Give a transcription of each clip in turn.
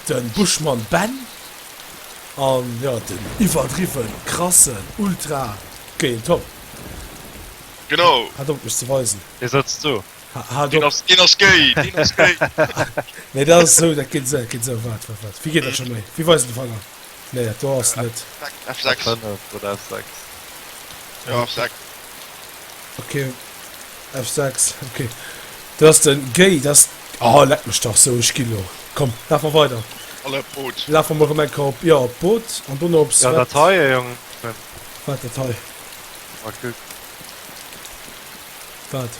Den Buschmann Ben an jo den iwwerdriwwen krassen Ultra géint Tom. Genau. Hat op mech ze weisen. Dee setzt zou. Deen ass deen ass gay. Deen ass gay. Nee dat ass esou dat geet esou. Wat wat wat wéi geet dat scho méi wéi weisen de Fanger. Nee et do ass net. F6 oder F6 jo F6. Ok F6 ok do ass den Gay dass oh leck mech dach sou ech gi lo komm laf mer weider alle op d'Boot lafe mer rem enker op jo op d'Boot an dono op ja dat heie Jong wat dat hei ma kuck wat.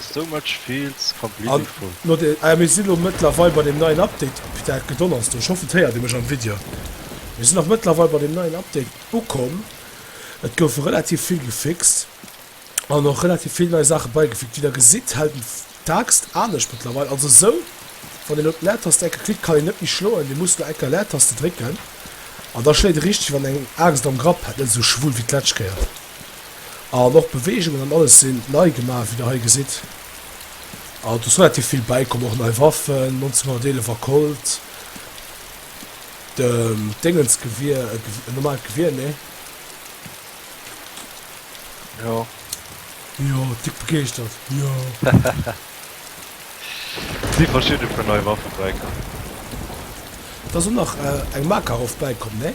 So much feels completely full. Ah mir si lo mëttlerweil bei dem neien Update, putain et gedonnerst do, ech hoffen et héiert ee mech am Video, mir si nach mëttlerweil bei dem neien Update ukomm, et gouf relativ vill gefixt an och relativ vill nei Saache beigefügt. Wéi der gesitt hält en d'Axt anescht mëttlerweil, also sou wann een op d'Leertaste enker klickt kann een net méi schloen, dee muss lo enker Leertaste drécken an da schléit e richteg wann eng Axt am Grapp hätt, net sou schwul wéi d'lescht Kéier. an och d'Beweegungen an alles sinn nei gemaach, wéi der hei gesitt. An et ass relativ vill bäikomm, och nei Waffen, 1911 a Colt, de Déngensgewier, e normaalt Gewier, nee. Jo. Jo, dick begeeschtert, jo. Et si verschidde puer nei Waffe bäikomm. Et ass och nach eng Makarov bäikomm, nee.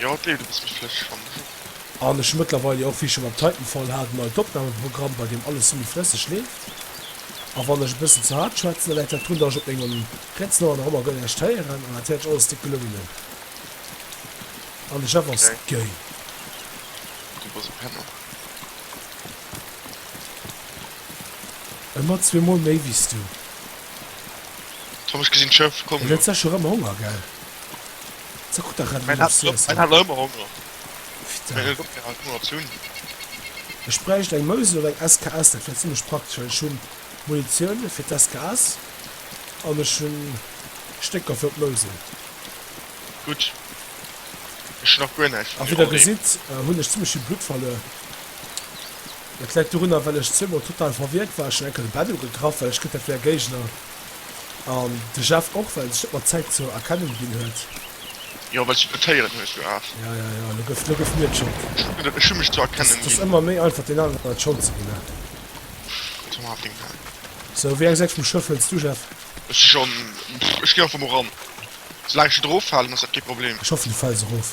Jo et leeft e bëssen schlecht schonn. An ech hu mëttlerweil jo och wéi ech scho mam Titanfall hat en neit Opnameprogramm bei deem alles semi flësseg leeft. A wann ech e bëssen ze haart schwätzen da läit dat drun dat ech op mengem Rätzelohr nach ëmmer guer näischt héieren an dat Häerz alles déck gelungen hunn. An de Chef ass gay. Du bass e Penner. Ëmmer zwee mol méi wéi s du. Tom ech gesinn d'Schëff, komm jo. Elo huet Sesh och ëmmer Honger gell. Ze gutt der Revolution, Sir. Ech hat nach ëmmer Honger. Ech bräicht eng Mouse oder eng SKS, dat wär zimlech praktesch, well ech hu Munitioun fir d'SKS an ech hu Stécker fir op d'Mouse. Gutt, ech hu nach guer näischt vun dir. A wéi der gesitt, hunn ech zimlech vill Blutt verluer. Dat läit dorunner, well ech zweemol total verwierkt war. Ech hunn enker de Bed ugegraff, well ech gëtt dat wéi e Géigner. An de Jeff och, well e sech ëmmer d'Zäit zur Erkennung ginn huet. Jo, well s du Kritéieren hues, jo aarf. Ja, ja, ja, elo gëff, elo gëff mir d'Schold. Ech hu gesot, ech hu mech zur Erkennung ginn. Ass ëmmer méi einfach, deen aneren d'Schold ze ginn, ne? Jetzt mach awer deng Nase. Sou, wéi eng Säit vum Schëff hëls du, Jeff? Ech si schonn, ech ginn einfach mol ran. Soulaang ech net eroffalen, ass dat kee Problem. Ech hoffen, du fäls erof.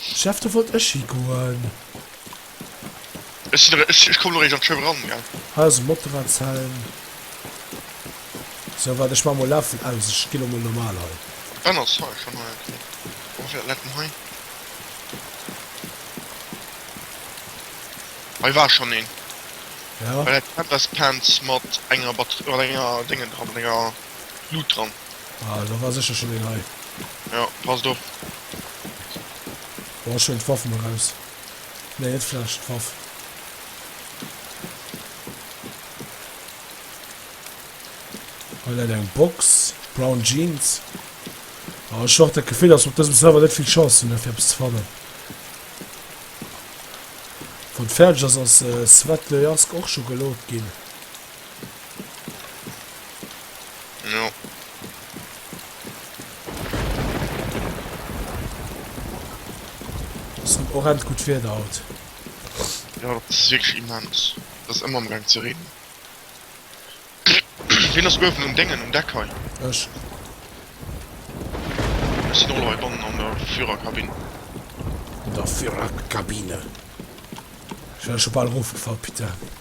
Jeff, do wollt ech higoen. Ech kommen eréischt an d'Show eran, gell? Hei ass e Motorradshelm. Sou, waart, ech maache mol Läffel aus. Ech gi lo mol normal hei. D'Benn ass hei schonn hei, okay. Wou ass dat letten hei? Hei war schonn een. Ja. Bei der Tepes Pants mat enger Batterie, mat enger Déngen dran, mat enger Luut dran. Ah, do war sécher schonn een hei. Jo, passt op. Boah, ech huelen d'Waff mol raus. Nee, net d'Fläsch, d'Waff. Hei läit eng Box, Brown Jeans. Ah, ech hu och dat Gefill, dass mer op dësem Server net vill Chance hunn, fir eppes ze fannen. Wann et fäerdeg ass, ass Svetlojarsk och scho geloodt ginn. Orent gut Wieder haut. Jo dat ass wierklech immens, et ass ëmmer am gaang ze reenen. Wien ass uewen um Déngen um Deck hei? Ech. Ech sinn och elo hei bannen an der Führerkabinn. An der Führerkabine. Ech wär scho bal erofgefall, putain.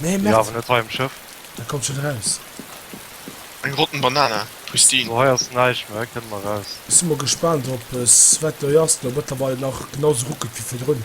Nee, Merd. Ja, awer net hei um Schëff. Da kommt schon raus. Eng rotten Banana, pristine. So hei ass näischt méi, hei kënne mer raus. Ech si mol gespaant op es wat hei ass lo mëttlerweil nach genau sou ruckelt wéi virdrun.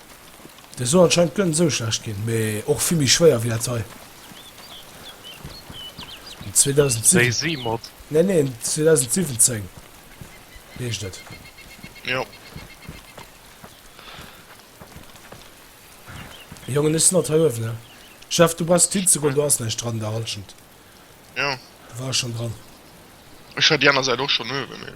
Dei soll anscheinend gönn esou schlecht gin, mee och vill méi schwéier wéi dat hei. En 2007 Daisy mod. Nee nee en 2017 heescht et. Jo. Jongen ech sen alt hei uewen he. Jeff du brauchst net hinzegoen do ass näischt dran der Halschent. Jo. Du wars schon dran. Ech war déi aner Säit och schon uewen mee.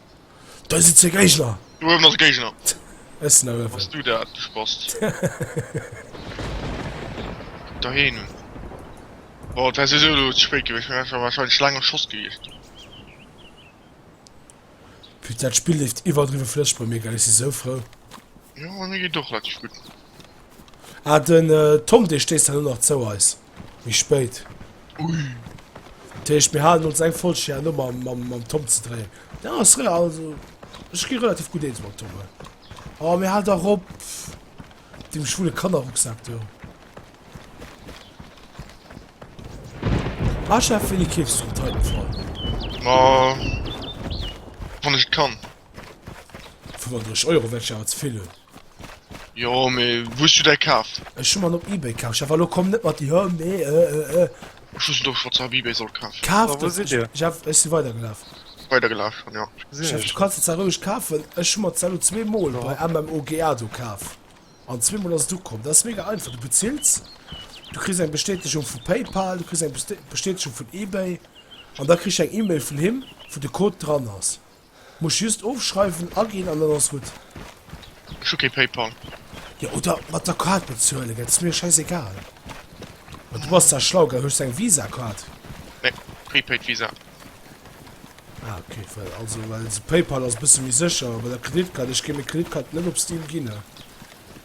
Da si zwee Géigner! Do uewen ass e Géigner! Ech sinn awer Ass du dat, du Spast? Doheem! Bon, et war souwisou elo ze spéit gewiescht, mä war wahrscheinlech laang am Schoss gewiescht. Fir dat Spill leeft iwwerdriwwe flësseg bei mir, gell? Ech si sou frou. Jo, bei mir geet och relativ gutt. Ah, den Tom, dee stéisst dann elo nach zou eis. Méi spéit. Ui. Dat heescht, mir halen ons eng Folg hir no mam Tom ze dréien. Dat ass re, also ech gi relativ gutt eens mam Tom hei. Oh, mir halen dach op dem schwule Kannerrucksak do. Ah, ech hätt wéini keefs drop drécken sollen. Ma wann ech et kann. 35 Euro wäert ech awer ze vill hunn. Jo mee wou hues du däi kaf? Ech hu mer en op Ebay kaf. Jeff alo komm net mat di hö mee ë ë ë. Ech wosst och schons op Ebay sollt kafen. Kaf Wa wou sidd dir? Jeff ech si weider gelaf. Weider gelaf schon jo. Gesinn Jeff ech du kanns et zwar roueg kafen. Ech hu mer ze elo zwee mol bei jo. MMOGA do kaf an zwee mol ass et ukomm. Dat ass mega einfach, du bezills, du kriss eng Bestätegung vu Paypal, du kriss eng Bestätegung vun Ebay an da kriss ech eng Email vun him wou de Code dran ass. Muss just ofschreiwen, agin an dann ass gudd. Ech hu kee Paypal. Jo, oder mat der Kaart bezuelen, dat ass mir scheiss egal. Ma du bass da schlau, gell? Hues du eng Visa Kaart? Nee, Prepaid Visa. Ah ok, well also well Paypal ass bësse méi sécher, bei der Kreditkaart, ech géif meng Kreditkaart net op Steam ginn.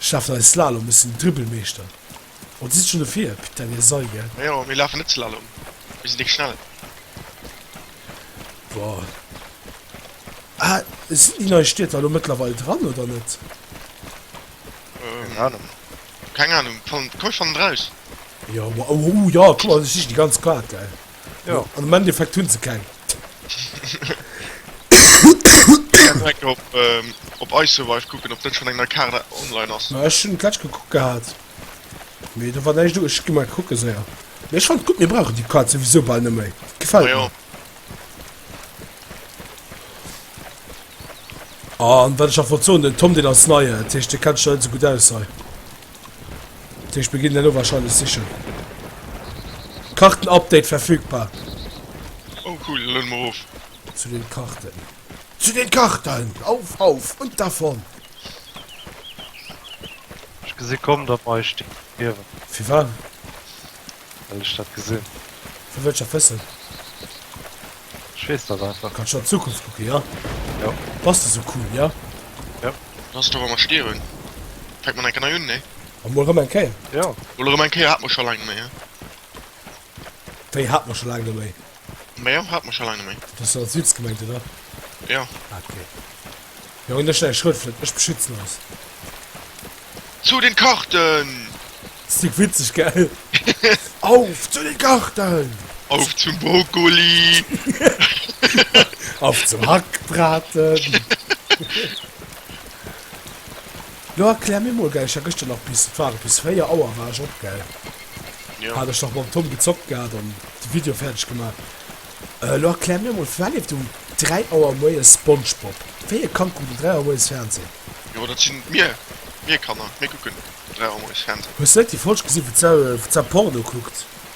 Ech lafen hei Slalom, ech sinn Dribbelmeeschter. Oh, dir sidd schonn dofir, putain, dir Sall, gell. Majo, mir lafen net Slalom, mir sinn déi Schnell. Boah. Ah, sinn déi nei Stiedter elo mëttlerweil dran, oder net? Keng Ahnung. Keng Ahnung, komm, ech fannen et raus. Jo, oh, jo, kuck mal, ech sichen déi ganz Kaart, gell. Jo. An am Endeffekt hunn se keng. Direkt op, ähm, op iSurvive kucken, ob dat schon eng nei Kaart online ass. Ma ech hunn d'lescht gekuckt gehat, mee do war näischt do. Ech gi mol kucke séier. Mee ech fannt gutt, mir brauchen déi Kaart souwisou bal net méi. Dat gefält Majo. mir. An wat ech nach wollt soen, den Tom, deen ass nei, dat heescht, dee kennt sech nach net esou gutt aus hei. Deeg beginn elo wahrscheinlech sichen. Kartenupdate verfügbar. Oh cool, lueden mer of. Zu den Karten. Zu den Karten! Auf, auf und davon! Ech gesi komm, datt mer eis stierwen. Firwat? Well ech dat gesinn. Vu wëlcher wëssen? Ech weess dat einfach. Kanns du an d'Zukunft kucken, ja? Jo. Bass de sou cool, ja? Jo. Lass et awer emol stierwen. Fänkt mat enker nei un, nee? A mol rëm eng Kéier. Jo. Mol rëm eng Kéier hat mer scho laang net méi, ja? Wéi hat mer scho laang net méi? Majo, haat mer scho lang net méi. Du hues als Witz gemengt oder? Jo. Ah ok. Jo hun dech nei Schrotflint, ech beschützen eis. Zu den Karten! Stik witzeg gell? Auf zu den Karten! Auf zum Brokkoli! Auf zum Hackbraten! Jo erklär mir mol gell, ech war geschter nach bis, wat war et, bis 4 Auer war ech op gell, hat ech nach mam Tom gezockt gehat an de Video fäerdeg gemaach. Elo erklär mir mol, firwat leeft um 3 Auer moies Spongebob? Wéi e Kand kuckt um 3 Auer moies Fernseh? Jo dat sinn mir, mir Kanner, mir kucken um 3 Auer moies Fernseh. Hues de net déi Folg gesi wou d'Sau Porno kuckt?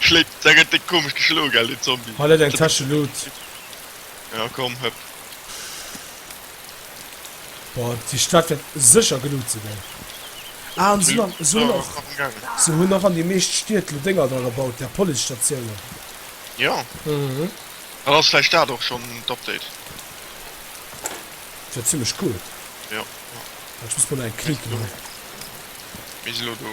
Schléit da gëtt déi komesch geschloe gell den Zombie. Hei läit eng Täsche Loot. Jo komm hëpp. Boah déi Stad wäert sécher geloot sinn ey. Ah an se hunn och, se hunn och an déi meescht Stied lo Dénger dra gebaut där Police Statiounen. Jo dann ass vläicht dat och schonn d'Update. Dat wär zimlech cool. Jo. Ech muss mol nach eng Clique man. Mir si lo do.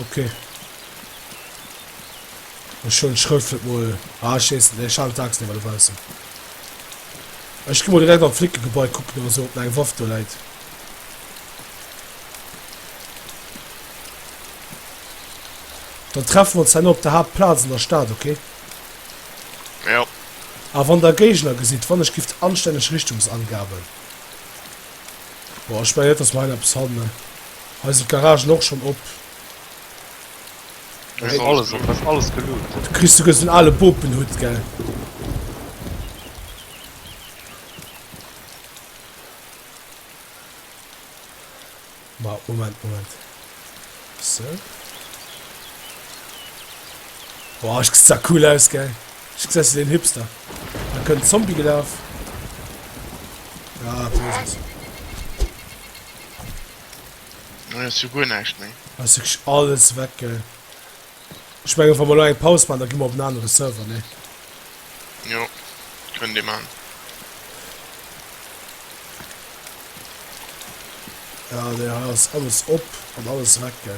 Ok. Ech hun d'Schrëftwert mol. Ah ech wees net méi, ech halen d'Axen ewer dobaussen. Ech gi mol direkt am Flickegebai kucken oder sou op nach eng Waff do läit. Dann treffen wir uns herno op der Haaptplaz an der Stad, ok? Jo. A wann der Géigner gesitt, wann ech giff anstänneg Richtungsangaben. Boah, ech mengen net dass mer hei nach eppes fannen. Hei sinn d'Garagen och schon op. Das ist alles, das ist alles geloot. Du kriegst sogar so einen alten Bopenhut, gell? Mal, Moment, Moment. So. Boah, ich sieht das cool aus, gell? Ich sehe den Hipster. Da können Zombie gelaufen. Ja, das ist es. Hues jo guer näischt méi. Ech hu wierklech alles weg ge. Ech mengen wa mer elo eng Paus maachen, da gi mer op en anere Server, ne? Jo, kënnt ee maachen. Ja, nee, hei ass alles op an alles weg ge.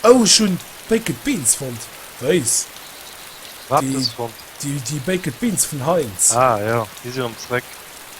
Oh, ech hunn Baked Beans fonnt. Weess. Wat hues fonnt? Déi, déi Baked Beans vun Heinz. Ah, jo, déi si erëm zréck.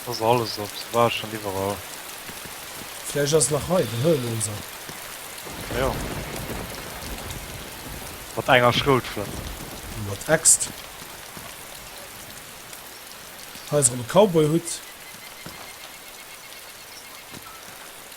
Et ass alles op, sou bal schon iwwerall. Vläicht ass et nach hei, den Hëllefloser. Ah jo. Mat enger Schroutflënt. Mat Äxt. Hei ass erëm e Cowboy-Hutt.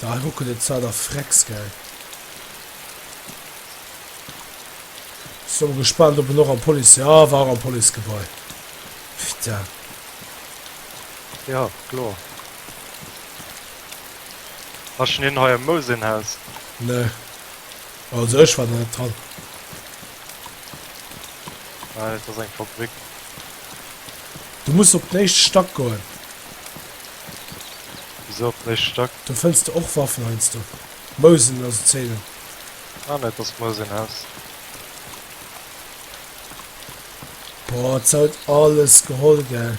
Da hei ruckelt et zwar der Frex, gell. So gespannt op en och am Police. Jo war och am Police Gebai. Putain. Jo kloer. Ass schon een hei am Mousenhaus? Nee. Also ech war da net dran. Well et ass eng Fabrik. Du muss op den éischte Stack goen. Wisou op den éischte Stack? Do fënns de och Waffen heiansdo. Mousen a sou Zéinen. Ah net, dass Mousen häss. Boah, et soll alles geholl gell.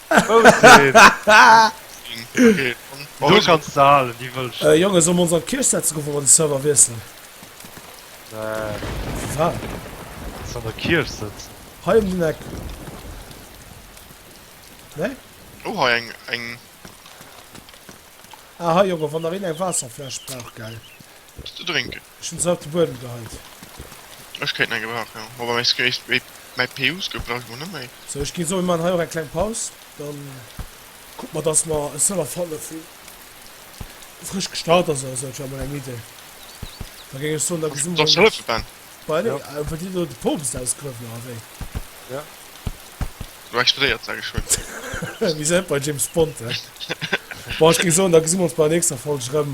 Jonge so ons an Kirch setze go wor den Server wiesselen der Kirch sëtzen hei um den Eck ne oh hei eng eng ah hei Jonge wann der een eng Waasserfläsch brauch gell ze drinken. Ech hun se alt de Buedem geheit. Ech kéint nei gebrauchen jo, ma bei mei Skate wei mei Peusgel brauch ech mer net méi. Sou ech gin soe maan hei och eng kleng Paus, dann kucken mer dass mer e Server fannen vun frësch gestart ass oder sou, et wär mol eng Idee, da géing ech soen da gesu mer mol mat. Bah nee, wëll dir do de Poopst ausgruewen oder wéi? Jo. Du explodéiert sage ech hun. Mir sen net bei James Bond he. Bon ech géing soen da gesu mer ons bei der nächster Folg rem,